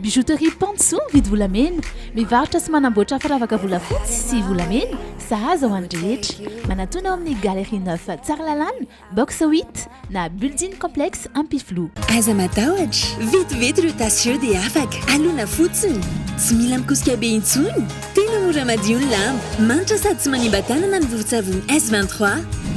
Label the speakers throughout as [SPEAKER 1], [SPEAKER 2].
[SPEAKER 1] Bijouterie Pantsou mividy volamena, mivarotra sy manamboatra firavaka volafotsy sy volamena, sahaza ho an'ny rehetra. Manatona ao amin'ny Galerie Neuf Tsaralalàna, box 8, na Building Complex Ampifiloha. Aza matahotra,
[SPEAKER 2] vetivety ireo tasy ireo dia afaka. Alona fotsiny. Tsy mila mikosika be intsony. Tena mora madio ny lamba. Manitra sady tsy manimba tanana ny vovon-tsavony S23.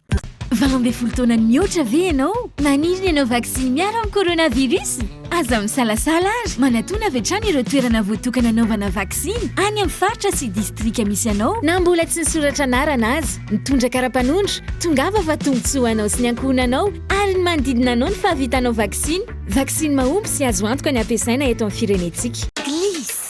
[SPEAKER 3] Valo ambin'ny folo
[SPEAKER 4] taona mihoatra ve ianao? Maniry ny hanao vaksiny miaro amin'ny coronavirus? Aza misalasala ary manatona avy hatrany ireo toerana voatokana hanaovana vaksiny any amin'ny faritra sy distrika misy anao na mbola tsy nisoratra anarana aza. Mitondra kara-panondro, tongava fa tombontsoa ho anao sy ny ankohonanao ary ny manodidina anao ny fahavitanao vaksiny. Vaksiny mahomby sy azo antoka ny hampiasaina eto amin'ny firenentsika. Gliss.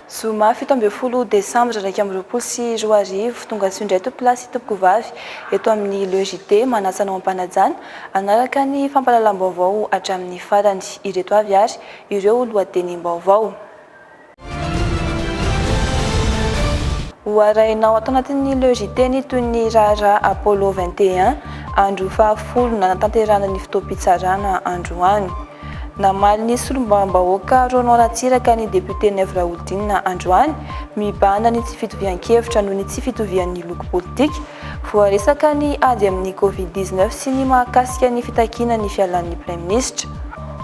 [SPEAKER 5] Zoma fito ambin'ny folo desambra iraika amby roapolo sy roa arivo, tonga soa indray tompo lahy sy tompoko vavy eto amin'ny Le JT, manasa anao am-panajana hanaraka ny fampahalalam-baovao hatramin'ny farany. Ireto avy ary ireo lohatenim-baovao. Ho arahinao ato anatin'ny Le JT ny toy ny raharaha Apollo vingt et un, andro fahafolo nanatanterahana ny fotoam-pitsarana androany. Namaly ny solombavambahoaka Ronan Ratsiraka ny depiote Nev Raholdina androany, mibahana ny tsy fitovian-kevitra noho ny tsy fitovian'ny loko politika. Voaresaka ny ady amin'ny Covid dix neuf sy ny mahakasika ny fitakiana ny fialan'ny praiminisitra.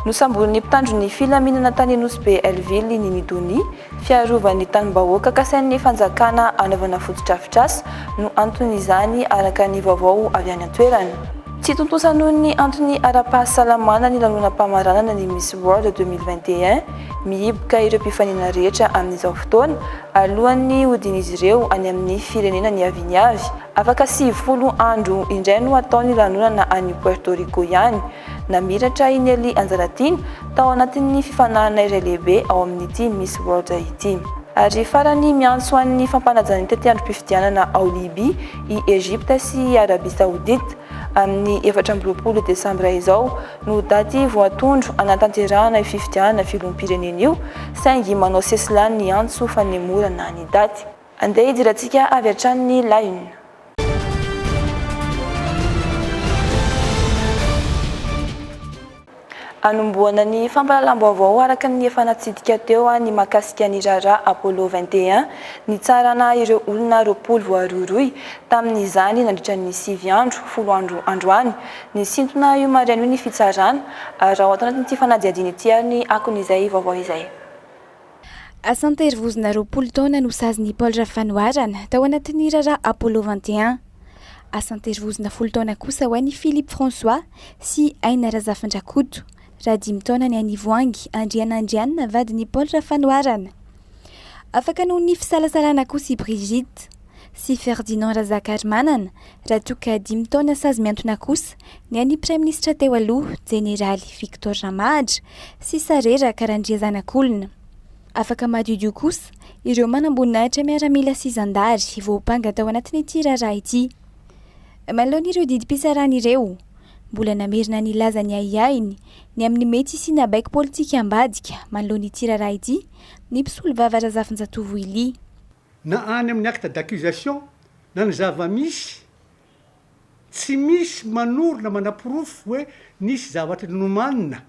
[SPEAKER 5] Nosamborin'ny mpitandro ny filaminana tany Nosy Be Helleville i Nini Dony, Fiarovan'ny tanim-bahoaka kasain'ny fanjakana anaovana fotodrafitrasa no anton'izany araka ny vaovao avy any an-toerana. Tsy tontosa noho ny antony ara-pahasalamana ny lanonam-pamaranana ny Miss World deux mille vingt et un, mihiboka ireo mpifaninana rehetra amin'izao fotoana, alohan'ny hodian'izy ireo any amin'ny firenena niaviany avy. Afaka sivifolo andro indray no hatao ny lanonana any Puerto Rico ihany, Namiratra i Nelly Anjalatiana tao anatin'ny fifaninanana iray lehibe ao amin'ity Miss World ity. Ary farany, miantso an'ny fampanajan'ny tetiandrom-pifidianana ao Libya i Egypte sy i Arabie Saoudite. Amin'ny efatra amby roapolo desambra izao no daty voatondro hanatanterahana io fifidianana filoham-pirenena io, saingy manao sesilany ny antso fanemorana ny daty. Andeha hidirantsika avy hatrany ny La Une. Anombohana ny fampahalalam-baovao araka ny efa natsidika teo ny mahakasika ny raharaha Apollo vingt et un, nitsarana ireo olona roapolo voarohirohy tamin'izany nandritra ny sivy andro, folo andro androany. Nisintona io maraina io ny fitsarana, ary ao anatin'ity fanadihadiana ity ary ny akon'izay vaovao izay. Asa an-terivozona
[SPEAKER 6] roapolo taona no sazin'i Paul Rafanoharana tao anatin'ny raharaha Apollo vingt et un. Asa an-terivozona folo taona kosa ho an'i Philippe François sy Aina Razafindrakoto, raha dimy taona ny an'i Voahangy Andrianandrianina vadin'i Paul Rafanoharana. Afaka noho ny fisalasalana kosa i Brigitte. sy Ferdinand Razakarimanana, raha toa ka dimy taona sazy miantona kosa ny an'ny praiminisitra teo aloha, jeneraly Victor Ramahadra, sy Sareraka Randriazanakolona. Afaka madiodio kosa ireo manamboninahitra miaramila sy zandary voampanga tao anatin'ity raharaha ity. Manoloana ireo didim-pitsarana ireo, mbola namerina nilaza ny ahiahiny ny amin'ny mety hisiana baiko politika ambadika manoloana ity raharaha ity ny mpisolovava Razafinjatovo Willy. na any
[SPEAKER 7] amin'ny acte d'accusation na ny zava-misy, tsy misy manoro na manaporofo hoe nisy zavatra nomanina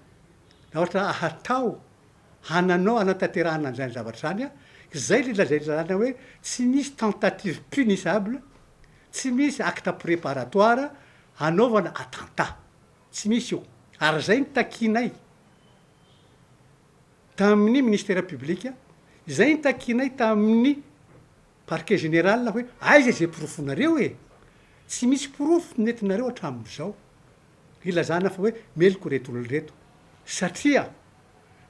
[SPEAKER 7] na ohatra hatao hananao hanatanterahana an'izany zavatra izany, izay ilay lazain'ny lalàna hoe tsy misy tentative punissable, tsy misy acte préparatoire hanaovana attentat, tsy misy io, ary izay no takianay. tamin'ny Ministera Publika izay nitakianay tamin'ny Parquet Général hoe aiza izay porofonareo e? Tsy misy porofo nentinareo hatramin'izao hilazana fa hoe meloka ireto olona ireto satria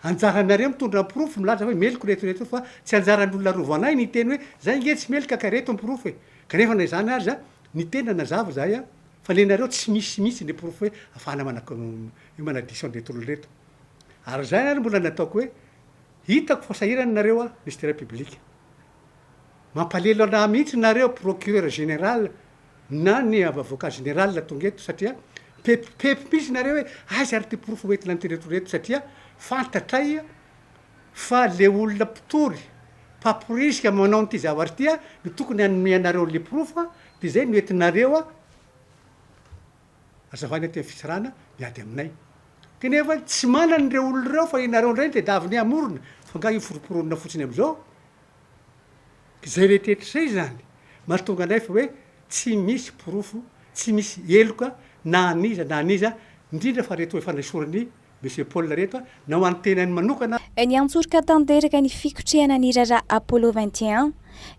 [SPEAKER 7] anjaranareo mitondra ny porofo milaza hoe meloka ireto ireto fa tsy anjaran'olona rovanay ny hiteny hoe zay ange tsy meloka ka ireto ny porofo e! Kanefa na izany aza ny tena nazava izahay fa nenareo tsy misy mihitsy ny porofo hoe afahana manadiso an'ireto olona ireto. Ary izany ary mbola ny ataoko hoe hitako fa sahirana nareo aho Mister Public. Mampalelo anah mihitsy nareo Procureur Général na ny Avocat Général tonga eto satria mipepipepy mihitsy nareo hoe aiza ary ity porofo hoentina an'ireto ireto satria fantatray fa le olona mpitory mpamporisika manao an'ity zavatra ity no tokony hanome anareo an'le porofo dia izay no entinareo Azavaina aty amin'ny fitsarana ny ady aminay. Kanefa tsy manana ireo olona ireo fa ianareo indray ny tedavy ny hamorona fa nga hiforoporonina fotsiny amin'izao? Izay rehetetra izay izany mahatonga anay fa hoe tsy misy porofo, tsy misy heloka na an'iza na an'iza indrindra fa reto efa nesorin'ny Monsieur Paul reto a, na ho an'ny tenany manokana a. Niantsoroka
[SPEAKER 6] tanteraka ny fikotrehana ny raharaha Apollo vingt et un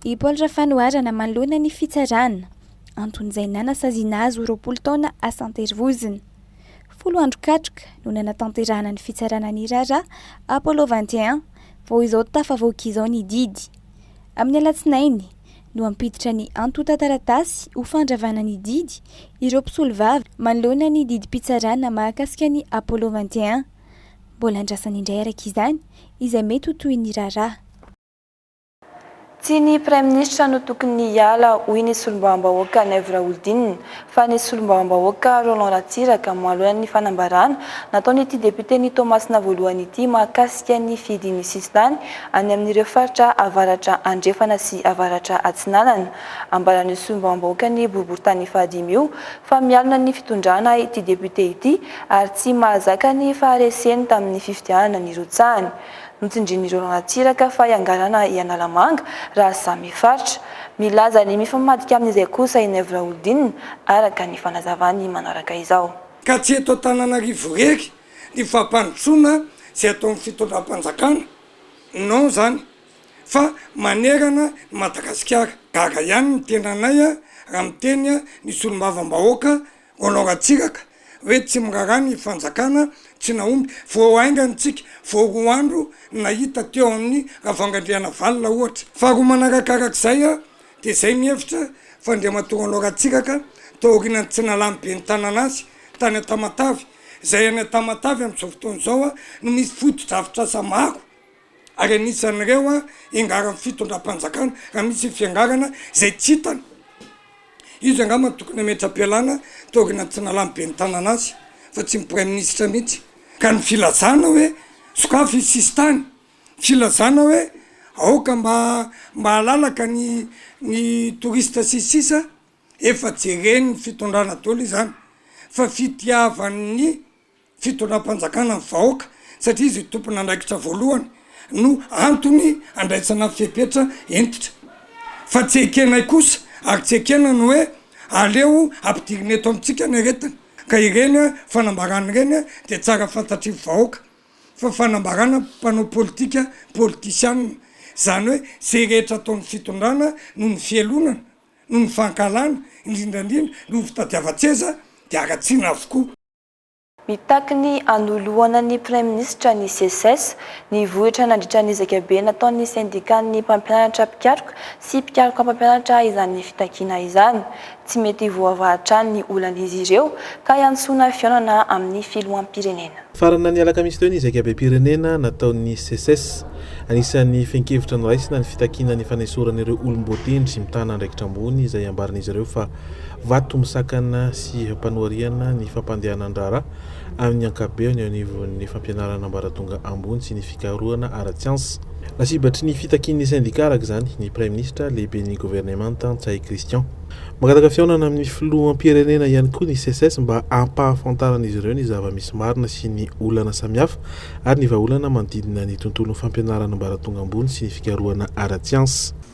[SPEAKER 6] i Paul Rafanoharana manoloana ny fitsarana, anton'izay nanasaziana azy ho roapolo taona asan-terivozona. Folo andro katroka no nanatanterahana ny fitsarana ny raharaha Apollo vingt et un vao izao tafavoaka izao ny didy. Amin'ny alatsinainy, no hampiditra ny antontan-taratasy ho fandravana ny didy ireo mpisolovava manoloana ny didim-pitsarana mahakasika ny Apollo vingt et un. Mbola andrasana indray araka izany izay mety ho tohin'ny raharaha.
[SPEAKER 5] Tsy ny Praiminisitra no tokony hiala, hoy ny solombavambahoaka Naivo Raholdina. fa ny solombavambahoaka Roland Ratsiraka mialohan'ny fanambarana nataon'ity depioten'i Toamasina voalohany ity mahakasika ny fidin'ny sisintany any amin'ireo faritra avaratra andrefana sy avaratra atsinanana. Ambaran'io solombavambahoakan'ny boriborintany fahadimy io fa mialona ny fitondrana ity depiote ity ary tsy mahazaka ny fahareseny tamin'ny fifidianana nirotsahany. Notsindrin'ireo ranatsiraka fa hiangarana i Analamanga raha samy faritra. Milaza ny mifamadika amin'izay kosa i Naivo Raholdina, araka ny fanazavany manaraka izao. Ka tsy eto
[SPEAKER 8] Antananarivo irery ny fampandrosoana izay ataon'ny fitondram-panjakana, non izany, fa manerana ny Madagasikara. Gaga ihany ny tenanay raha miteny ny solombavambahoaka Mbola ratsiraka hoe tsy miraharaha ny fanjakana tsy nahomby. Vao haingana isika vao roa andro nahita teo amin'ny Ravangandrianavalona ohatra. Faharoa manaraka araka izay dia izay mihevitra fa Andriamatoa Roland Ratsiraka taorianan'ny tsy nalan'ny Ben'ny tanàna azy tany Antamatave, izay any Antamatave amin'izao fotoana izao no misy fotodrafitrasa maro. ary anisan'ireo hiangaran'ny fitondram-panjakana raha misy ny fiangarana izay tsy hitany. Izy angamba no tokony hametra-pialana teo aorianan'ny tsy nalan'ny ben'ny tanàna azy fa tsy ny praiminisitra mihitsy. Ka ny filazana hoe sokafy ny sisintany, filazana hoe aoka mba mba halalaka ny ny touriste sy ny sisa efa jeren'ny fitondrana daholo izany fa fitiavan'ny. fitondram-panjakana ny vahoaka satria izy tompon'andraikitra voalohany no antony andraisana fepetra hentitra fa tsy ekenay kosa ary tsy ekena ny hoe aleo ampidirina eto amintsika ny aretina ka ireny fanambarana ireny dia tsara fantatry vahoaka fa fanambarana mpanao politika politisianina izany hoe izay rehetra ataon'ny fitondrana noho ny fialonana noho ny fankahalana indrindrandrindra noho ny fitadiavan-tseza dia haratsiana avokoa. Mitaky
[SPEAKER 5] ny hanoloana ny Praiminisitra ny Seces, nivohitra nandritra ny ezaka be nataon'ny Sendikan'ny mpampianatra mpikaroka sy mpikaroka mpampianatra izany fitakiana izany. Tsy mety voavaha hatrany ny olan'izy ireo ka iantsoana fihaonana amin'ny Filoham-pirenena. Farana ny alakamisy
[SPEAKER 9] teo ny ezaka bem-pirenena nataon'ny Seces. Anisan'ny fehin-kevitra noraisina ny fitakiana ny fanesorana ireo olom-boatendry mitana andraikitra ambony izay ambaran'izy ireo fa. Vato misakana sy hampanoariana ny fampandehanan-draharaha amin'ny ankapobeny eo anivon'ny fampianarana ambaratonga ambony sy ny fikarohana ara-tsiansa. Lasibatry ny fitakian'ny sendika araka izany ny Praiminisitra, Lehiben'ny Governemanta, Ntsay Christian. Mangataka fihaonana amin'ny Filoham-pirenena ihany koa ny SECES mba hampahafantaran'izy ireo ny zava-misy marina sy ny olana samihafa ary ny vahaolana manodidina ny tontolon'ny fampianarana ambaratonga ambony sy ny fikarohana ara-tsiansa.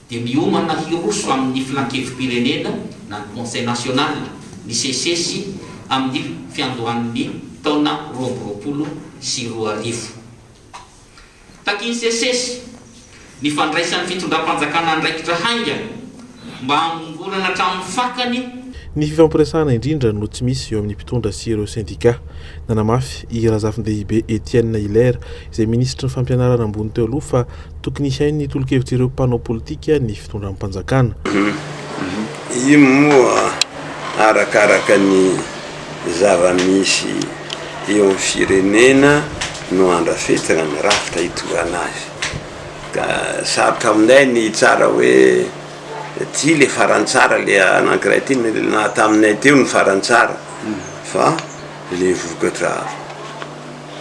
[SPEAKER 10] dia miomana hiroso amin'ny Filankevi-pirenena na ny Conseil National ny CCES amin'ny fiandohan'ny taona roa amby roapolo sy roa arivo. Takian'ny CCES ny fandraisan'ny fitondram-panjakana andraikitra haingana mba hamongorana hatramin'ny fakany, Ny fifampiresahana
[SPEAKER 9] indrindra no tsy misy eo amin'ny mpitondra sy ireo sendika. Nanamafy i Razafindehibe Etienne Hilaire izay minisitry ny Fampianarana ambony teo aloha fa tokony hihain'ny tolo-kevitr'ireo mpanao politika ny fitondram-panjakana.
[SPEAKER 11] Io moa arakaraka ny zava-misy eo amin'ny firenena no andrafetana ny rafitra hitondrana azy. Ka sarotra aminay ny hitsara hoe ty ilay faran'ny tsara, ilay anankiray ity na taminay teo ny faran'ny tsara fa ilay vokatra.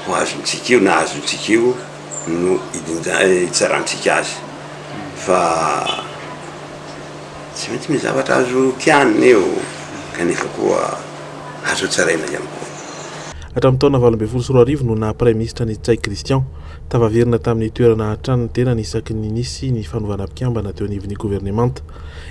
[SPEAKER 11] Ho azontsika io na azontsika io no hitsarantsika azy fa tsy maintsy misy zavatra azo tianina eo kanefa koa azo tsaraina ihany koa. Hatramin'ny taona
[SPEAKER 9] valo ambin'ny folo sy roa arivo no naha praiminisitra an'i Ntsay Christian. Tafaverina tamin'ny toerana hatrany ny tenany isaky ny nisy ny fanovana mpikambana teo anivon'ny governemanta.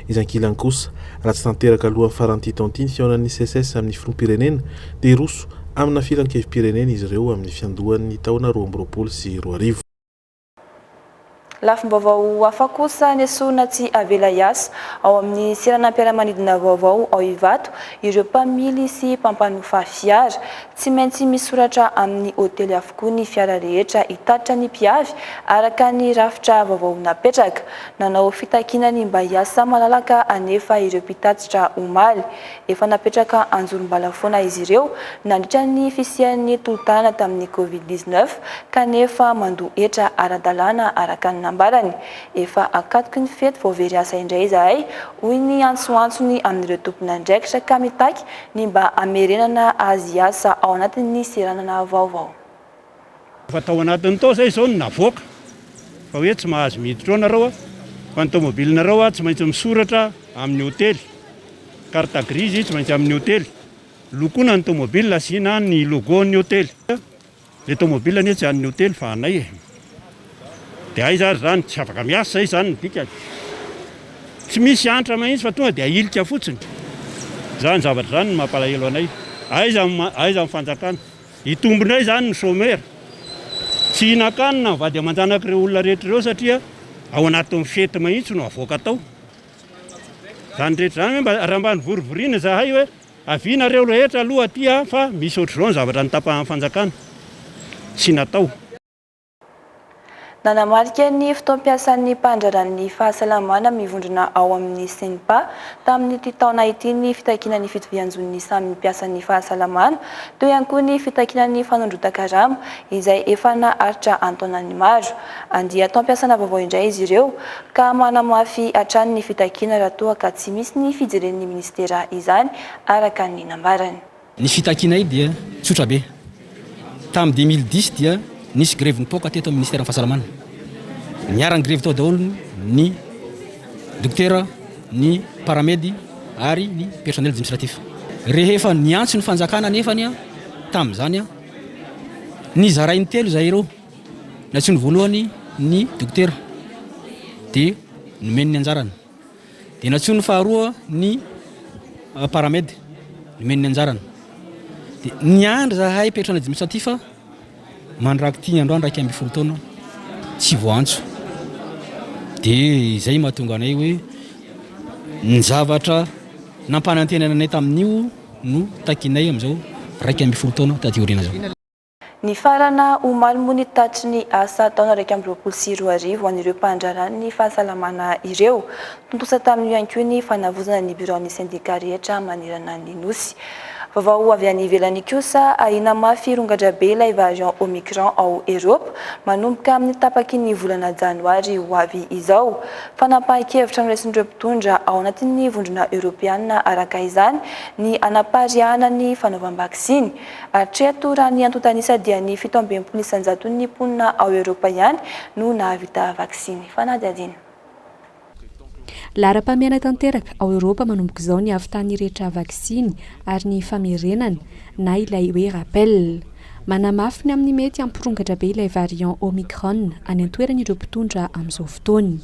[SPEAKER 9] Izy ankilany kosa, raha tsy tanteraka alohan'ny faran'ity taon'ity ny fihaonan'ny SECES amin'ny filoham-pirenena, dia hiroso Amina filankevi-pirenena izy ireo amin'ny fiandohan'ny taona roa amby roapolo sy roa arivo.
[SPEAKER 5] Lafim-baovao hafa kosa nesorina tsy avela hiasa ao amin'ny seranam-piaramanidina vaovao ao Ivato ireo mpamily sy mpampanofa fiara. Tsy maintsy misoratra amin'ny hotely avokoa ny fiara rehetra hitatitra ny mpiavy araka ny rafitra vaovao napetraka. Nanao fitakiana ny mba hiasa malalaka anefa ireo mpitatitra omaly. Efa napetraka anjorom-bala foana izy ireo nandritra ny fisian'ny tolo-tanana tamin'ny Covid dix-neuf kanefa mandoa hetra ara-dalàna araka ny nambarany. Efa akatoky ny fety vao very asa indray izahay, hoy ny antsoantsony amin'ireo tompon'andraikitra ka mitaky ny mba hamerenana azy hiasa ao anatin'ny seranana vaovao. Efa
[SPEAKER 12] tao anatiny tao izay izao no navoaka fa hoe tsy mahazo miditra ao nareo fa ny tomobilinareo tsy maintsy misoratra amin'ny hotely, carte grise tsy maintsy amin'ny hotely, lokoina ny tomobil asiana ny logo ny hotely, ilay tomobil anie tsy an'ny hotely fa anay e! dia aiza ary izany? tsy afaka miasa izay izany no dikany, tsy misy antra mahitsy fa tonga dia ahilika fotsiny, izany zavatra izany no mampalahelo anay, aiza ny aiza ny fanjakana? Hitombina izany ny chômeur. Tsy hihinan-kanina ny vady aman-janaka ireo olona rehetra ireo satria ao anatin'ny fety mahitsy no avoaka tao. Izany rehetra izany hoe mba raha mba nivorivoriana izahay hoe avia nareo rehetra aloha aty fa misy ohatr'izao ny zavatra notapahan'ny fanjakana. Tsy natao.
[SPEAKER 5] Nanamarika ny fotoam-piasan'ny mpandraharaha ny fahasalamana mivondrona ao amin'ny CNPA tamin'ity taona ity ny fitakiana ny fitovian-jon'ny samy mpiasan'ny fahasalamana, toy ihany koa ny fitakiana ny fanondrotan-karama izay efa naharitra an-taonany maro. Andian-taom-piasana vaovao indray izy ireo ka manamafy hatrany ny fitakiana raha toa ka tsy misy ny fijeren'ny minisitera izany, araka ny nambarany. Ny fitakianay
[SPEAKER 13] dia tsotra be. Tamin'ny deux mille dix dia nisy grevy nipoaka teto amin'ny Minisiteran'ny Fahasalamana. Niara-nigrevy tao daholo ny dokotera, ny paramedy ary ny personnel administratif. Rehefa niantso ny fanjakana anefany tamin'izany, nizarainy telo izahay ireo. Nantsoiny voalohany ny dokotera dia nomeny ny anjarany. Dia nantsoin'ny faharoa ny Paramed, nomeny ny anjarany. Dia niandry zahay petra any administratif a, mandrak'ity androany iraika ambin'ny folo taona, tsy voantso. Dia izay mahatonga anay hoe ny zavatra nampanantenana anay tamin'io no takinay amin'izao iraika ambin'ny folo taona taty aoriana izao. Nifarana
[SPEAKER 5] omaly moa ny tatitry ny asa taona iraika amby roapolo sy roa arivo ho an'ireo mpandraharaha ny fahasalamana ireo. Tontosa tamin'io ihany koa ny fanavozana ny biraon'ny sendika rehetra manerana ny Nosy. Vaovao avy any ivelany kosa, ahiana mafy hirongadra be ilay variant Omicron ao Eropa manomboka amin'ny tapaky ny volana janoary ho avy izao. Fanapahan-kevitra noraisin'ireo mpitondra ao anatin'ny vondrona eoropeana araka izany ny hanapariahana ny fanaovam-baksiny. Hatreto, raha ny antontan'isa dia ny fito amby enimpolo isanjaton'ny mponina ao Eoropa ihany no nahavita vaksiny. Fanadihadiana.
[SPEAKER 14] Laharam-pahamehana tanteraka, ao Eoropa manomboka izao ny havitan'ny rehetra vaksiny ary ny famerenana, na ilay hoe rappel. Manamafy ny amin'ny mety hampirongatra be ilay variant Omicron any an-toerana ireo mpitondra amin'izao fotoana.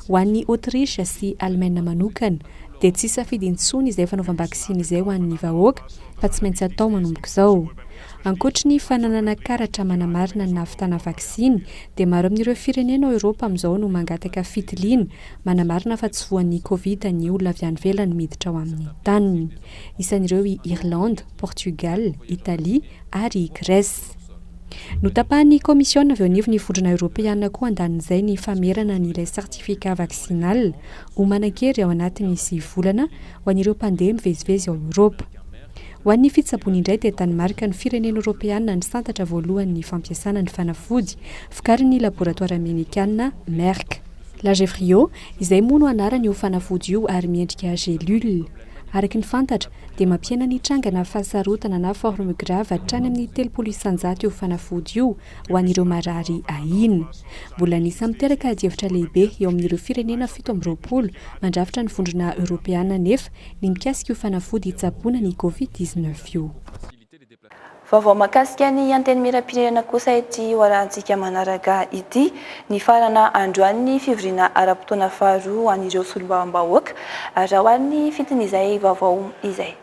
[SPEAKER 14] Ho an'i Autriche sy Alemaina manokana dia tsy safidy intsony izay fanaovam-baksiny izay ho an'ny vahoaka, fa tsy maintsy atao manomboka izao. Ankoatry ny fananana karatra manamarina ny nahavitana vaksiny, dia maro amin'ireo firenena ao Eoropa amin'izao no mangataka fitiliana manamarina fa tsy voan'ny Covid ny olona avy any ivelany miditra ao amin'ny taniny. Isan'ireo i Irlande, Portugal, Italia ary i Grèce. Notapahan'ny Kaomisiona avy eo anivon'ny Vondrona Eoropeana koa andanin'izay ny famerana an'ilay certificat vaccinal ho manan-kery ao anatin'ny sivy volana ho an'ireo mpandeha mivezivezy ao Eoropa. Ho an'ny fitsaboana indray dia Danemark no firenena Eoropeana nisantatra voalohany ny fampiasana ny fanafody vokarin'ny laboratoara Amerikana Merck. Lagevrio, izay moa no anaran'io fanafody io ary miendrika gélule. Araka ny fantatra dia mampihena ny trangana fahasarotana na forme grave hatrany amin'ny telopolo isan-jato io fanafody io, ho an'ireo marary ahiana. Mbola ny samy miteraka adihevitra lehibe eo amin'ireo firenena fito amby roapolo mandrafitra ny Vondrona Eoropeana anefa ny mikasika io fanafody tsaboana ny Covid dix-neuf io.
[SPEAKER 5] Vaovao mahakasika ny Antenimierampirenena kosa ity hoarahantsika manaraka ity. Nifarana androany ny fivoriana ara-potoana faharoa ho an'ireo Solombavambahoaka, raha ho an'ny fitin'izay vaovao izay.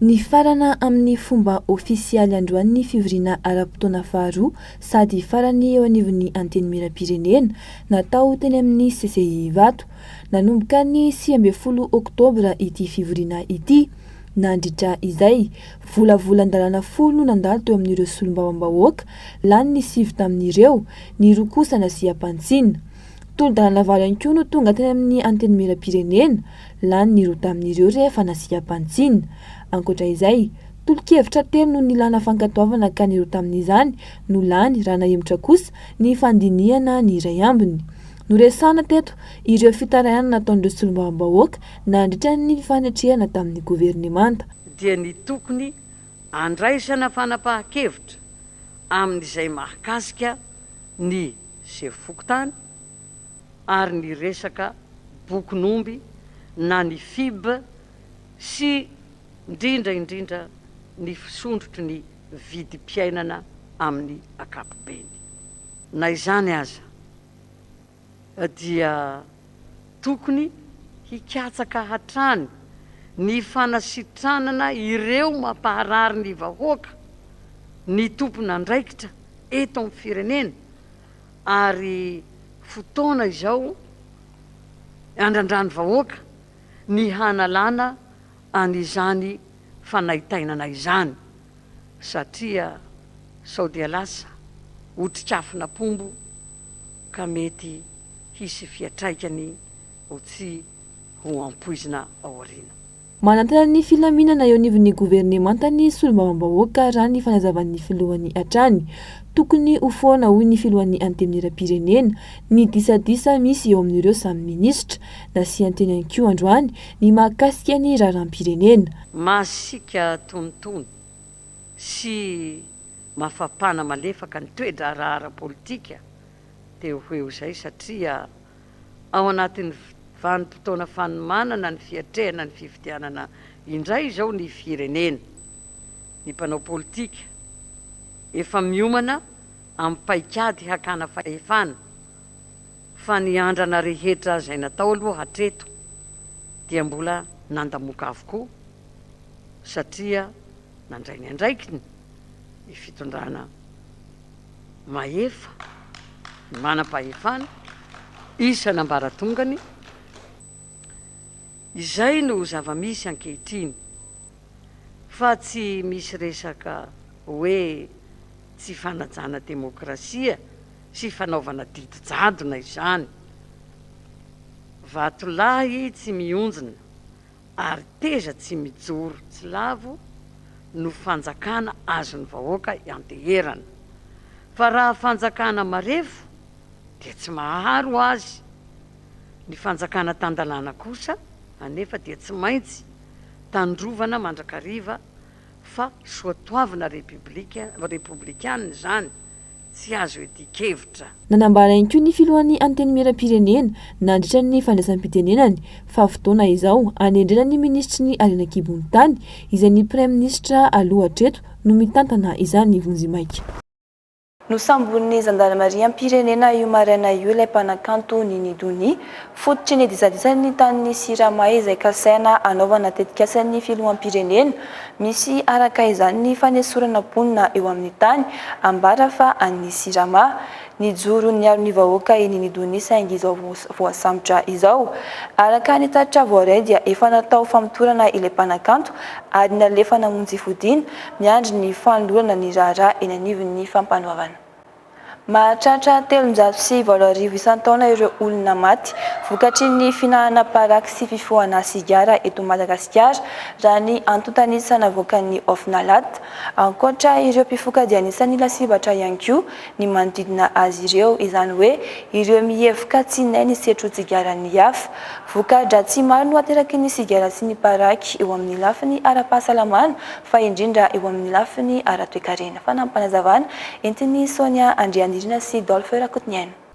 [SPEAKER 5] Nifarana
[SPEAKER 15] amin'ny fomba ofisialy androany ny fivoriana ara-potoana faharoa sady farany eo anivon'ny Antenimierampirenena, natao teny amin'ny CCI Ivato. Nanomboka ny sivy ambin'ny folo oktobra ity fivoriana ity. Nandritra izay, volavolan-dalàna folo no nandalo teo amin'ireo solombavambahoaka, lany ny sivy tamin'ireo, ny roa kosa nasiam-pantsina. Tolo-dalàna valo ihany koa no tonga teny amin'ny Antenimierampirenena. Lany ny roa tamin'ireo rehefa nasiaka bantsina. Ankoatra izay, tolo-kevitra telo no nilana fankatoavana ka ny roa tamin'izany no lany raha nahemotra kosa ny fandinihana ny iray ambiny. Noresahana teto ireo fitarainana nataon'ireo solombavambahoaka nandritra ny fifanetrehana tamin'ny governemanta. dia ny
[SPEAKER 16] tokony handraisana fanapahan-kevitra amin'izay mahakasika ny sefo fokontany, ary ny resaka bokin'omby na ny fib sy indrindra indrindra ny fisondrotry ny vidim-piainana amin'ny ankapobeny. Na izany aza dia tokony hikatsaka hatrany ny fanasitranana ireo mampaharary ny vahoaka, ny tompon'andraikitra eto amin'ny firenena ary fotoana izao handrandran'ny vahoaka ny hanalana an'izany fanaintainana izany satria sao dia lasa otrikafon'apombo ka mety hisy fiatraikany ho tsy ho ampoizina aoriana. Manantena ny
[SPEAKER 15] filaminana eo anivon'ny governemanta ny solombavambahoaka raha ny fanazavan'ny filohany hatrany. Tokony ho foana hoy ny filohan'ny Antenimierampirenena ny disadisa misy eo amin'ireo samy minisitra. Nasian-teny ihany koa androany ny mahakasika ny raharaham-pirenena. Masiaka
[SPEAKER 16] tonitony sy mafapana malefaka ny toe-draharaha ara-politika dia ho eo izay satria ao anatin'ny vanim-potoana fanomanana ny fiatrehana ny fifidianana indray izao ny firenena. Ny mpanao politika efa miomana amin'ny paikady hakana fahefana, fa ny andrana rehetra izay natao aloha hatreto dia mbola nandamoka avokoa, satria nandray ny andraikiny ny fitondrana. mahefa, ny manam-pahefana, isan'ambaratongany, izay no zava-misy ankehitriny fa tsy misy resaka hoe tsy fanajana demokrasia sy fanaovana didy jadona izany. Vatolahy tsy mionjona Ary teza tsy mijoro tsy lavo no fanjakana azon'ny vahoaka ianteherana. Fa raha fanjakana marefo dia tsy mahaharo azy. Ny fanjakana tan-dalàna kosa anefa dia tsy maintsy tandrovana mandrakariva fa soatoavina repiblika, repoblikanina izany, tsy azo iadian-kevitra. Nanambara ihany koa
[SPEAKER 15] ny filohan'ny Antenimierampirenena, nandritra ny fandraisam-pitenenany, fa fotoana izao hanendrena ny minisitry ny Harena an-kibon'ny tany, izay ny praiminisitra aloha hatreto no mitantana izany vonjimaika.
[SPEAKER 5] Nosamborin'ny zandarimariam-pirenena io maraina io ilay mpanakanto Nini Doni. Fototry ny disadisany ny tanin'i Sirama izay kasaina hanaovana tetikasan'ny filoham-pirenena. Misy araka izany ny fanesorana mponina eo amin'ny tany, ambara fa an'ny Sirama. Nijoro niaro ny vahoaka i Nini Doni saingy izao voasambotra izao. Araka ny tatitra voaray dia efa natao famotorana ilay mpanakanto ary nalefa namonjy fodiana miandry ny fanolorana ny raharaha eny anivon'ny Fampanoavana. Mahatratra telonjato sy valo arivo isan-taona ireo olona maty vokatry ny fihinanana paraky sy fifohana sigara eto Madagasikara, raha ny antontan'isa navoakan'ny Ofnalat, ankoatra ireo mpifoka dia anisan'ny lasibatra ihany koa ny manodidina azy ireo, izany hoe ireo mihevoka tsy hinay ny setrotsigaran'ny hafa. Voka-dratsy maro no ateraky ny sigara sy ny paraky eo amin'ny lafiny ara-pahasalamana fa indrindra eo amin'ny lafiny ara-toekarena, fanampim-panazavana entin'i Sonia Andrianirina sy Dolphe Rakotoniaina.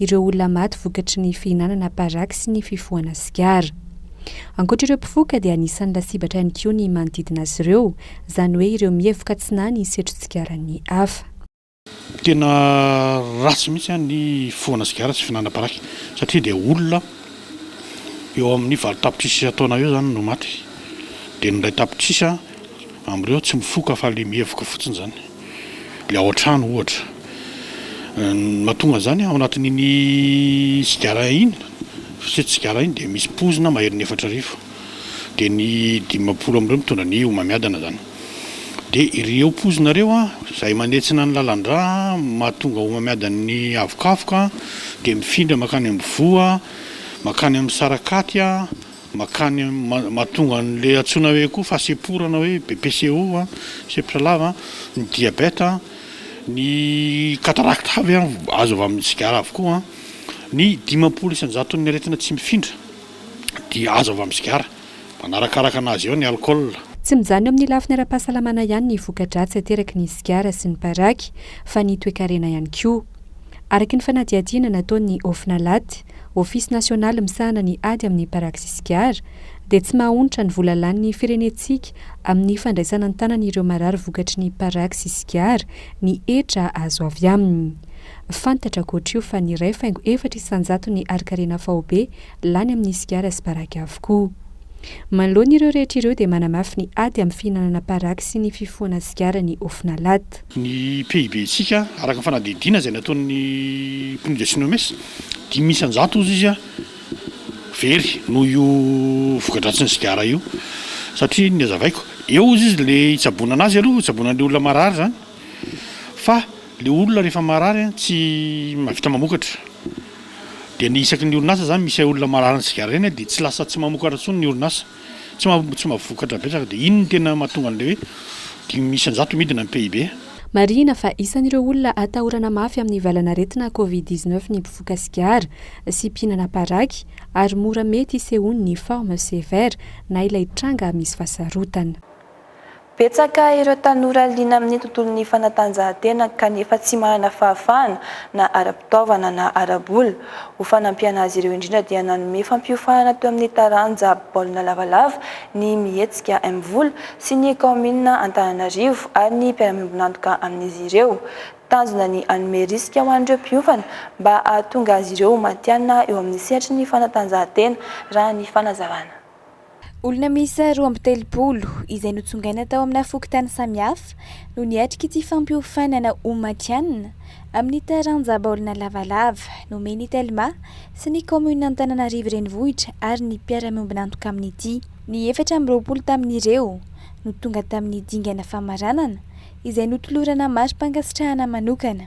[SPEAKER 14] ireo olona maty vokatry ny fihinanana paraky sy ny fifohana sigara. Ankoatra ireo mpifoka dia anisan'ny lasibatra ihany koa ny manodidina azy ireo, izany hoe ireo mihevoka tsy nahy ny setro-tsigaran'ny hafa. Tena
[SPEAKER 12] ratsy mihitsy an ny fifohana sigara sy fihinanana paraky satria dia olona eo amin'ny valo tapitrisa taona eo izany no maty dia ny iray tapitrisa Amin'ireo tsy mifoka fa ilay mihevoka fotsiny izany, ilay ao an-trano ohatra. Ny mahatonga an'izany ao anatin'iny sigara iny, fisotroana sigara iny dia misy poizina maherin'ny efatra arivo. Dia ny dimampolo amin'ireo mitondra ny homamiadana izany. Dia ireo poizina ireo izay manentsina ny lalan-drà, mahatonga homamiadan'ny havokavoka, dia mifindra mankany amin'ny voa, mankany amin'ny sarakaty. Makany mahatonga an'ilay antsoina hoe koa fahasemporana hoe BPCO, sempotra lava, ny diabeta, ny katarakta avy azo avy amin'ny sigara avokoa. Ny dimampolo isan-jaton'ny aretina tsy mifindra dia azo avy amin'ny sigara, manarakaraka anazy eo ny alkaola. Tsy mijanona eo amin'ny
[SPEAKER 14] lafiny ara-pahasalamana ihany ny voka-dratsy ateraky ny sigara sy ny paraky fa ny toekarena ihany koa. Araky ny fanadihadiana nataon'ny Off Nalate, Ofisy nasionaly misahana ny ady amin'ny parakisy sigara, dia tsy maha-onitra ny vola lanin'ny firenentsika amin'ny fandraisana an-tanana ireo marary vokatry ny parakisy sigara ny hetra azo avy aminy. Fantatra ankoatr'io fa ny iray faingo efatra isan-jaton'ny harin-karena faobe lany amin'ny sigara sy paraky avokoa. Manoloana ireo rehetra ireo dia manamafy ny ady amin'ny fihinanana paraky sy ny fifohana sigara ny Ofnalhat. Ny
[SPEAKER 12] PIB-ntsika, araka ny fanadihadiana izay nataon'ny PNUD sy Nomes, Dimy isan-jato hozy izy very noho io voka-dratsin'ny sigara io satria ny hazavaiko eo hozy izy le hitsaboana anazy aloha hitsaboana an'ilay olona marary izany fa ilay olona rehefa marary an tsy mahavita mamokatra dia ny isaky ny orinasa izany misy olona mararin'ny sigara ireny dia tsy lasa tsy mamokatra intsony ny orinasa. Tsy maha tsy maha vokatra betsaka dia iny no tena mahatonga an'ilay hoe dimy isan-jato midina ny PIB. Marihina fa
[SPEAKER 14] isan'ireo olona atahorana mafy amin'ny valanaretina Covid dix neuf ny mpivoka sigara sy mpihinana paraky ary mora mety isehoan'ny forme sévère na ilay tranga misy fasarotana. Betsaka
[SPEAKER 5] ireo tanora liana amin'ny tontolon'ny fanatanjahantena kanefa tsy manana fahafahana na ara-pitaovana na ara-bola. Ho fanampiana azy ireo indrindra dia nanome fampiofanana teo amin'ny taranja baolina lavalava ny Mihetsika Mvola sy ny kaominina Antananarivo ary ny mpiara-miombon'antoka amin'izy ireo. Tanjona ny hanome risika ho an'ireo mpiofana mba hahatonga azy ireo ho matihanina eo amin'ny sehatry ny fanatanjahantena raha ny fanazavana.
[SPEAKER 6] Olona miisa roa amby telopolo, izay notsongaina tao amina fokontany samihafa, no niatrika ity fampiofanana ho matihanina amin'ny taranja baolina lavalava nomen'ny Telma sy ny kaominin'Antananarivo Renivohitra ary ny mpiara-miombon'antoka amin'ity. Ny efatra amby roapolo tamin'ireo no tonga tamin'ny dingana famaranana, izay notolorana mari-pankasitrahana manokana.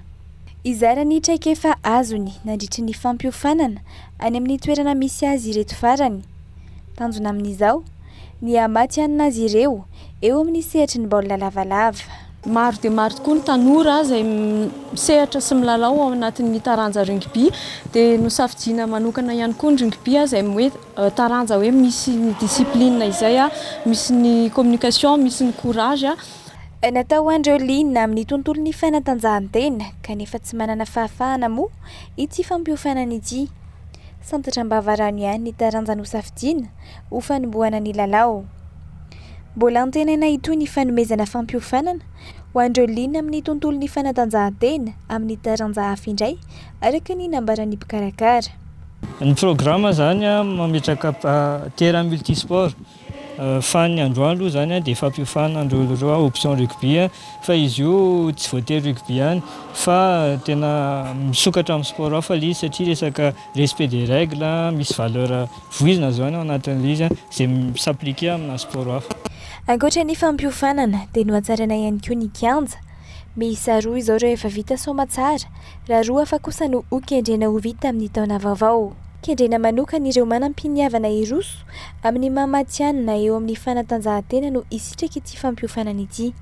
[SPEAKER 6] Hizara ny traikefa azony nandritry ny fampiofanana any amin'ny toerana misy azy ireto farany. Tanjona amin'izao? Ny hamatihanina azy ireo eo amin'ny sehatry ny baolina lavalava. Maro dia maro
[SPEAKER 17] tokoa ny tanora izay misehatra sy milalao ao anatin'ny taranja rugby. Dia nosafidiana manokana ihany koa ny rugby izay hoe taranja hoe misy ny discipline izay, misy ny communication, misy ny courage. Natao ho
[SPEAKER 6] an'ireo liana amin'ny tontolon'ny fanatanjahantena kanefa tsy manana fahafahana moa ity fampiofanana ity. Santatra am-bava rano ihany ny taranja nosafidiana ho fanombohana ny lalao. Mbola antenaina hitohy ny fanomezana fampiofanana ho an'ireo liana amin'ny tontolon'ny fanatanjahantena amin'ny taranja hafa indray, araka ny nambaran'ny mpikarakara. Ny
[SPEAKER 18] programa izany mametraka terrain multisport. Fa ny androany aloha izany dia fampiofana an'ireo ireo hoe option rugby fa izy io tsy voatery rugby ihany fa tena misokatra amin'ny sport hafa ilay izy satria resaka respect des règles, misy valeur voizina izany ao anatin'ilay izy izay mi-s'appliquer amina sport hafa. Ankoatra ny
[SPEAKER 6] fampiofanana dia nohatsaraina ihany koa ny kianja. Miisa roa izao ireo efa vita soamantsara raha roa hafa kosa no hokendrena ho vita amin'ny taona vaovao. Kendrena manokana ireo manam-piniavana hiroso Amin'ny maha matihanina eo amin'ny fanatanjahantena no hisitraka ity fampiofanana ity.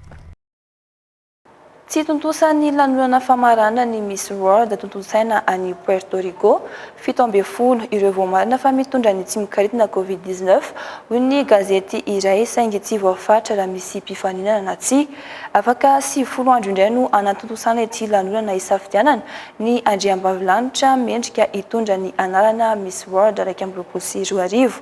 [SPEAKER 6] Tsy
[SPEAKER 5] tontosan'ny lanonana famarana ny Miss World tontosaina any Puerto Rico, fito ambin'ny folo, ireo voamarina fa mitondra ny tsy mikaritna Covid dix neuf, hoy ny gazety iray, saingy tsy voafaritra raha misy mpifaninana na tsia. Afaka sivifolo andro indray no hanatontosana ity lanonana hisafidianana Ny Andriambavilanitra mendrika hitondra ny anarana Miss World iraika amby roapolo sy roa arivo.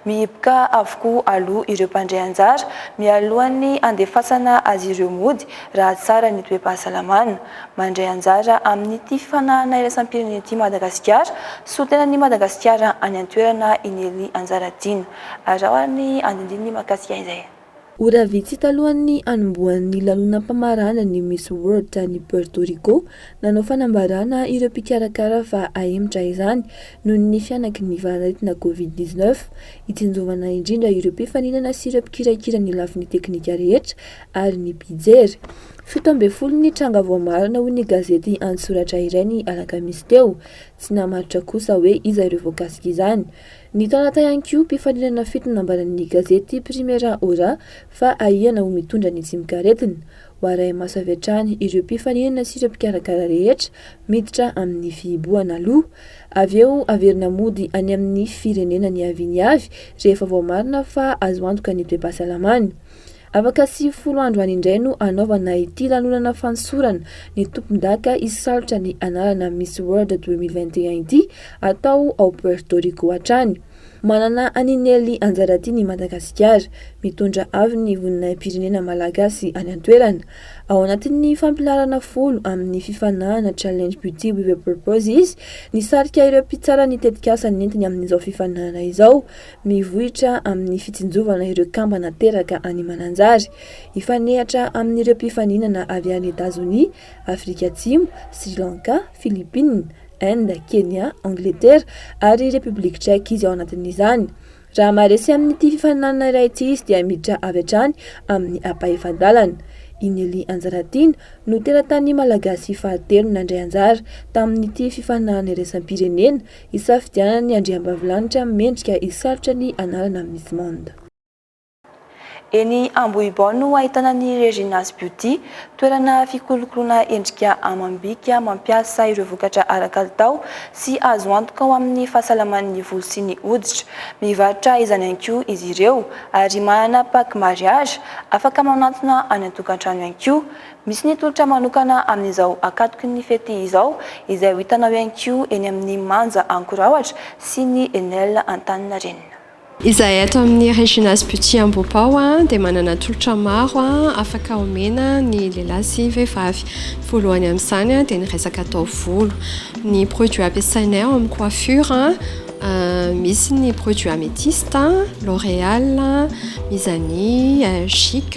[SPEAKER 5] Mihiboka avokoa aloha ireo mpandray anjara mialohan'ny handefasana azy ireo mody raha tsara ny toe-pahasalamana. Mandray anjara amin'ity fifanahana iraisam-pirenena ity Madagasikara, solontenan'i Madagasikara any an-toerana i Nelly Anjaratiana. Araho ary ny andinindininy mahakasika izay. Ora vitsy
[SPEAKER 15] talohan'ny hanombohan'ny lanonam-pamaranana ny Miss World tany Puerto Rico, nanao fanambarana ireo mpikarakara fa hahemotra izany noho ny fihanaky ny valan'aretina Covid dix neuf. Hitsinjovana indrindra ireo mpifaninana sy ireo mpikirakira ny lafiny teknika rehetra ary ny mpijery. Fito ambin'ny folo ny tranga voamarina hoy ny gazety an-tsoratra iray ny alakamisy teo. Tsy namaritra kosa hoe iza ireo voakasika izany. Ny taranaka ihany koa mpifaninana fito nambaran'ny gazety Primera Hora fa ahiana ho mitondra ny tsimok'aretina. Ho arahi-maso avy hatrany ireo mpifaninana sy ireo mpikarakara rehetra miditra amin'ny fihibohana aloha. Avy eo averina mody any amin'ny firenena niaviany avy rehefa voamarina fa azo antoka ny toe-pahasalamany. Afaka sivifolo andro any indray no hanaovana ity lanonana fanosorana ny tompondaka hisalotra ny anarana Miss World 2021 ity atao ao Puerto Rico hatrany. Manana an'i Nelly Anjaratiana i Madagasikara, mitondra avy ny voninahi-pirenena malagasy any an-toerana. Ao anatin'ny fampilaharana folo amin'ny fifanahana Challenge Beauty with a Purpose izy, nisarika ireo mpitsara ny tetikasa nentiny amin'izao fifaninanana izao. Mivoitra amin'ny fitsinjovana ireo kambana teraka any Mananjary. Hifanehatra amin'ireo mpifaninana avy any Etazonia, Afrika Atsimo, Sri Lanka, Philippines, Inde, Kenya, Angletera ary Repoblika Tchèque izy ao anatin'izany. Raha maharesy amin'ity fifaninanana iray ity izy dia miditra avy hatrany amin'ny ampahefa-dalana. I Nelly Anjaratiana no teratany malagasy fahatelo nandray anjara tamin'ity fifaninanana iraisam-pirenena Isafidianan'ny andriambavilanitra mendrika hisarotra ny anarana Miss Monde.
[SPEAKER 5] Eny Ambohibao no ahitana ny Regina's Beauty, toerana fikolokoloana endrika amam-bika mampiasa ireo vokatra ara-kalitao sy azo antoka ho amin'ny fahasalaman'ny volo sy ny hoditra. Mivarotra izany ihany koa izy ireo ary manana pack mariage afaka manantona any an-tokantrano ihany koa. Misy ny tolotra manokana amin'izao akatoky ny fety izao izay ho hitanao ihany koa eny amin'ny Manja Ankorahoatra sy ny Enel Antaninarenina. Izahay ato
[SPEAKER 19] amin'ny Regina's Beauty Ambohibao dia manana tolotra maro afaka omena ny lehilahy sy vehivavy. Voalohany amin'izany dia ny resaka taovolo. Ny produits ampiasainay ao amin'ny coiffure misy ny produits Amethyste, L'Oréal, Mizani, Chic.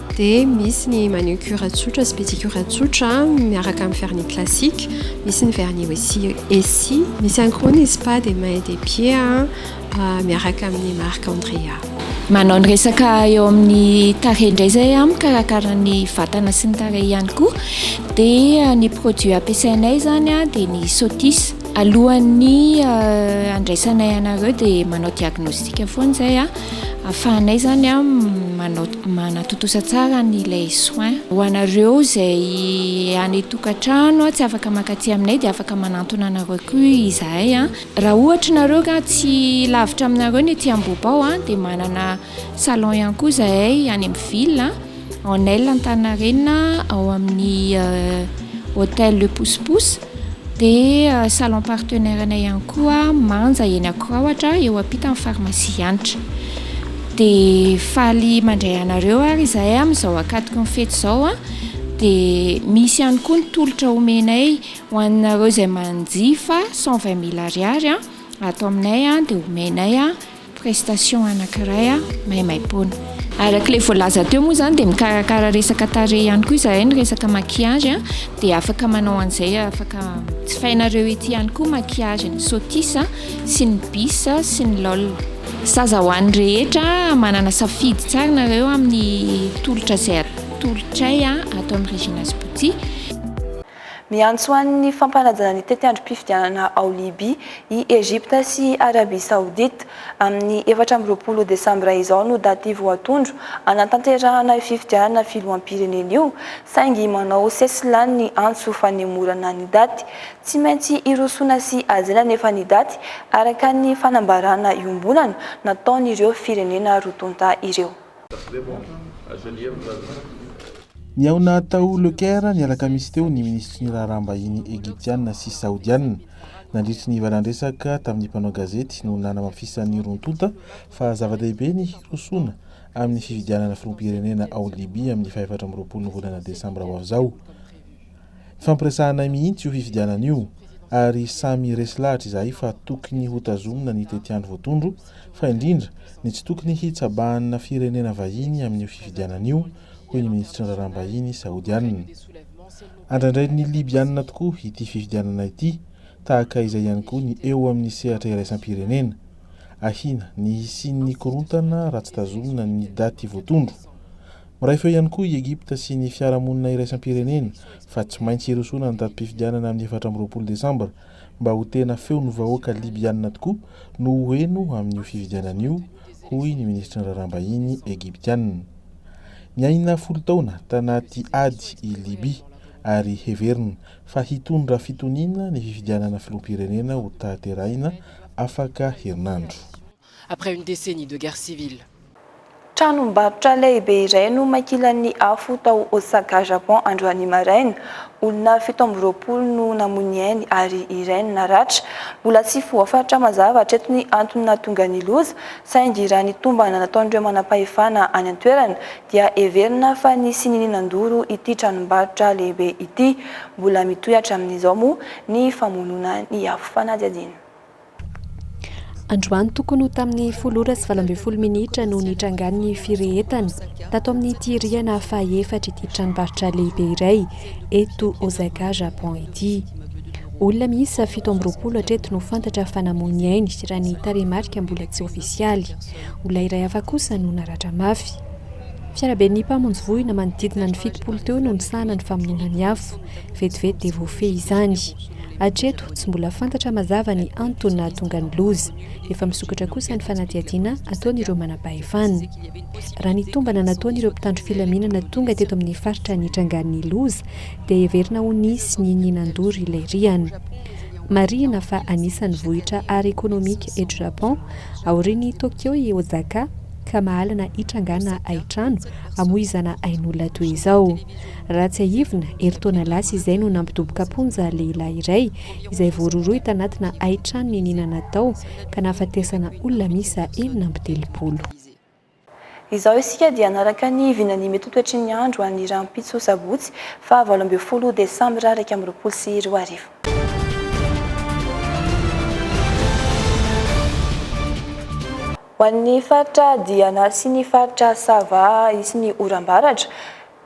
[SPEAKER 19] Dia misy ny manucure tsotra sy pedicure tsotra miaraka amin'ny vernis classique, misy ny vernis aussi esi, misy ihany koa ny spa des mains et des pieds miaraka amin'ny marque Andrea. Manao ny
[SPEAKER 2] resaka eo amin'ny tarehy indray izay aho, mikarakara ny vatana sy ny tarehy ihany koa. Dia ny produit ampiasainay izany dia ny Sotis. Alohan'ny handraisanay anareo dia manao diagnostic foana izay ahafahanay izany manao. Manatontosa tsara ny lait soin. Ho anareo izay any tokantrano tsy afaka mankaty aminay dia afaka manantona anareo koa izahay. Raha ohatra nareo ka tsy lavitra aminareo ny ety Ambohibao dia manana salon ihany koa izahay any amin'ny ville en aile Antaninarenina ao amin'ny hotel le pousse pousse. Dia salon partenaire-nay ihany koa Manja eny Ankoraohatra eo ampitan'ny pharmacie Hanitra. Dia faly mandray anareo ary izahay amin'izao ankatoky ny fety izao. Dia misy ihany koa ny tolotra omenay ho anareo izay manjifa cent vingt mille ariary ato aminay dia omenay. prestation anankiray maimaimpoana. Araka ilay voalaza teo moa izany dia mikarakara resaka tarehy ihany koa izahay, ny resaka maquillage dia afaka manao an'izay, afaka jifainareo ety ihany koa maquillage ny sotis sy ny bis sy ny lol. Zaza ho an'ny rehetra, manana safidy tsara nareo amin'ny tolotra izay atolotray ato amin'ny Regina's Beauty.
[SPEAKER 5] Miantso an'ny fampanajana ny tetiandrom-pifidianana ao Libya i Egypta sy i Arabia Saodita. Amin'ny efatra amby roapolo desambra izao no daty voatondro hanatanterahana io fifidianana filoham-pirenena io, saingy manao sesilany ny antso fanemorana ny daty. Tsy maintsy hirosoana sy hajaina anefa ny daty, araka ny fanambarana iombonana nataon'ireo firenena roa tonta ireo.
[SPEAKER 9] Nihaona tao Le Caire ny alakamisy teo ny minisitry ny raharaham-bahiny Egyptiana sy Saodiana. Nandritry ny valan-dresaka tamin'ny mpanao gazety no nanamafisan'ny roa tonta fa zava-dehibe ny hirosoana amin'ny fifidianana filoham-pirenena ao Libya amin'ny fahefatra amby roapolo ny volana desambra ho avy izao. Nifampiresahanay mihitsy io fifidianana io ary samy resy lahatra izahay fa tokony hotazomina ny tetiandro voatondro fa indrindra ny tsy tokony hitsabahanna firenena vahiny amin'io fifidianana io, hoy ny minisitry ny raharaham-bahiny saodianina. Andraindrain'ny Libyana tokoa ity fifidianana ity, tahaka izay ihany koa ny eo amin'ny sehatra iraisam-pirenena. Ahiana ny hisian'ny korontana raha tsy tazomina ny daty voatondro. Miray feo ihany koa i Egypta sy ny fiarahamonina iraisam-pirenena fa tsy maintsy hirosoana ny datim-pifidianana amin'ny efatra amby roapolo desambra mba ho tena feon'ny vahoaka Libyana tokoa no ho heno amin'io fifidianana io, hoy ny minisitry ny Raharaham-bahiny Egyptiana. Niaina folo taona tanaty ady i Libya ary heverina fa hitondra fitoniana ny fifidianana filoham-pirenena ho tahaterahina afaka herinandro. après une
[SPEAKER 20] décennie de guerre civile. Tranombarotra
[SPEAKER 5] lehibe iray no makilan'ny afo tao Osaka, Japon androany maraina. Olona fito amby roapolo no namoy ny ainy ary iray no naratra. Mbola tsy voafaritra mazava hatreto ny antony nahatonga ny loza saingy raha ny tombana nataon'ireo manampahefana any an-toerana dia heverina fa nisy nininan-doro ity tranombarotra lehibe ity. Mbola mitohy hatramin'izao moa ny famonoana ny afo fanadihadiana.
[SPEAKER 14] Androany tokony ho tamin'ny folo ora sy valo ambin'ny folo minitra no nitrangan'ny firehetana tato amin'ity rihana fahaefatra ity tranombarotra lehibe iray eto Osaka, Japon ity. Olona miisa fito amby roapolo hatreto no fantatra fa namoy ny ainy raha ny tarehimarika mbola tsy ofisialy. Olona iray hafa kosa no naratra mafy. Fiaraben'ny mpamonjy voina manodidina ny fitopolo teo no nisahana ny famonoana ny afo. Vetivety dia voafehy izany. Hatreto, tsy mbola fantatra mazava ny antony nahatonga ny loza. Efa misokatra kosa ny fanadihadiana ataon'ireo manampahefana. Raha ny tombana nataon'ireo mpitandro filaminana tonga teto amin'ny faritra nitrangan'ny loza dia heverina ho nisy ny ny nandoro ilay rihana. Marihina fa anisan'ny vohitra ara-ekonomika eto Japon, aorian'i Tokyo i Osaka, ka mahalana hitrangana haitrano hamoizana ain'olona toy izao. Raha tsiahivina, herintaona lasa izay no nampidoboka am-ponja lehilahy iray izay voarohirohy tanatina haitranony inianana tao ka nahafatesana olona miisa enina amby telopolo.
[SPEAKER 5] Izao isika dia hanaraka ny vinan'ny mety ho toetry ny andro any rahampitso sabotsy faha valo ambin'ny folo desambra iraika amby roapolo sy roa arivo. Ho an'ny faritra Diana sy ny faritra Sava hisy ny oram-baratra.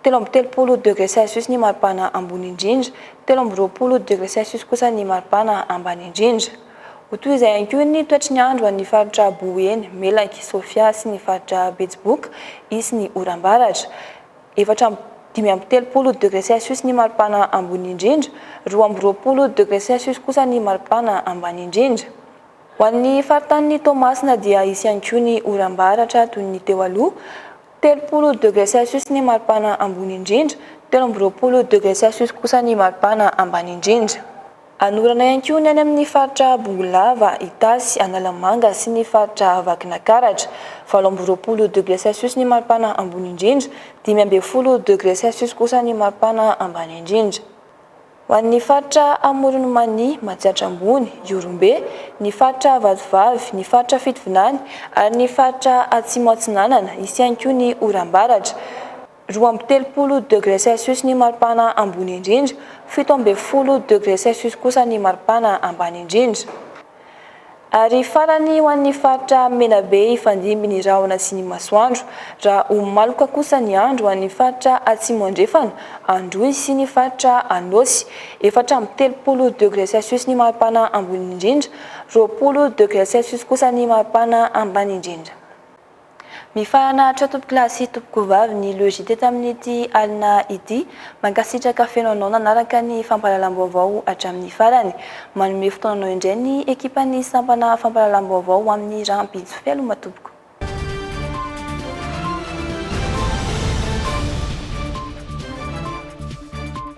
[SPEAKER 5] Telo amby telopolo degré Celsius ny maripana ambony indrindra, telo amby roapolo degré Celsius kosa ny maripana ambany indrindra. Ho toy izay ihany koa ny toetry ny andro ho an'ny faritra Boeny, Melaky, Sofia sy ny faritra Betsiboka, hisy ny oram-baratra. Efatra amby dimy amby telopolo degré Celsius ny maripana ambony indrindra, roa amby roapolo degré Celsius kosa ny maripana ambany indrindra. Ho an'ny faritanin'i Toamasina dia hisy ihany koa ny oram-baratra toy ny teo aloha. Telopolo degre Celsius ny maripana ambony indrindra, telo amby roapolo degre Celsius kosa ny maripana ambany indrindra. Hanorana ihany koa ny any amin'ny faritra Bongolava, Itasy, Analamanga sy ny faritra Vakinankaratra. Valo amby roapolo degre Celsius ny maripana ambony indrindra, dimy ambin'ny folo degre Celsius kosa ny maripana ambany indrindra. Ho an'ny faritra Amoron'i Mania, Matsiatra Ambony, Ihorombe, ny faritra Vatovavy, ny faritra Fitovinany ary ny faritra Atsimo Atsinanana, hisy ihany koa ny oram-baratra. Roa amby telopolo degré Celsius ny maripana ambony indrindra, fito ambin'ny folo degré Celsius kosa ny maripana ambany indrindra. Ary farany ho an'ny faritra Menabe hifandimby ny rahona sy ny masoandro. Raha ho maloka kosa ny andro ho an'ny faritra Atsimo Andrefana, Androy sy ny faritra Anôsy, efatra amby telopolo degré Celsius ny maripana ambony indrindra, roapolo degré Celsius kosa ny maripana ambany indrindra. Mifahanahatra tompoko lahy sy tompoko vavy ny logite tamin'ity alina ity. Mankasitraka feno anao nanaraka ny fampahalalam-baovao hatramin'ny farany. Manome fotoananao indray ny ekipan'ny sampana fampahalalam-baovao ho amin'ny rahampitso. Fialoma tompoko.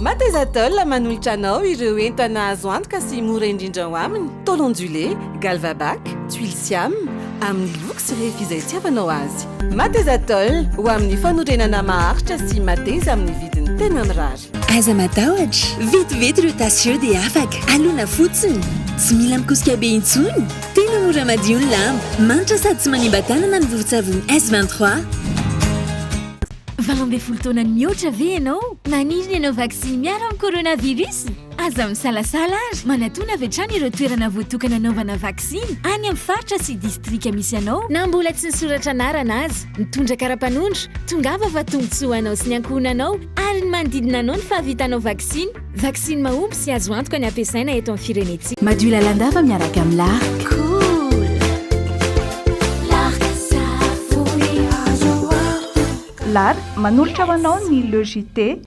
[SPEAKER 3] Mateza Tôle
[SPEAKER 4] manolotra anao ireo entana azo antoka sy mora indrindra ao aminy, tôle ondulé, galvabac, tuiles siam, amin'ny loko sy refy izay itiavanao azy. Mateza Tôle, ho amin'ny fanorenana maharitra sy mateza amin'ny vidiny tena mirary. Aza matahotra,
[SPEAKER 21] vetivety ireo tasy ireo dia afaka. Alona fotsiny. Tsy mila mikosika be intsony. Tena mora madio ny lamba. Manitra sady tsy manimba tanana ny vovon-tsavony S23.
[SPEAKER 22] Valo ambin'ny folo taona mihoatra ve ianao? Maniry ny hanao vaksiny miaro amin'ny coronavirus? Aza misalasala ary manatona avy hatrany ireo toerana voatokana hanaovana vaksiny any amin'ny faritra sy distrika misy anao. Na mbola tsy nisoratra anarana aza, mitondra kara-panondro, tongava fa tombontsoa ho anao sy ny ankohonanao ary ny manodidina anao ny fahavitanao vaksiny. Vaksiny mahomby sy azo antoka ny ampiasaina eto amin'ny firenentsika. Madio lalandava miaraka
[SPEAKER 1] amin'ny Lark.
[SPEAKER 23] Lark, manolotra ho anao ny Le JT.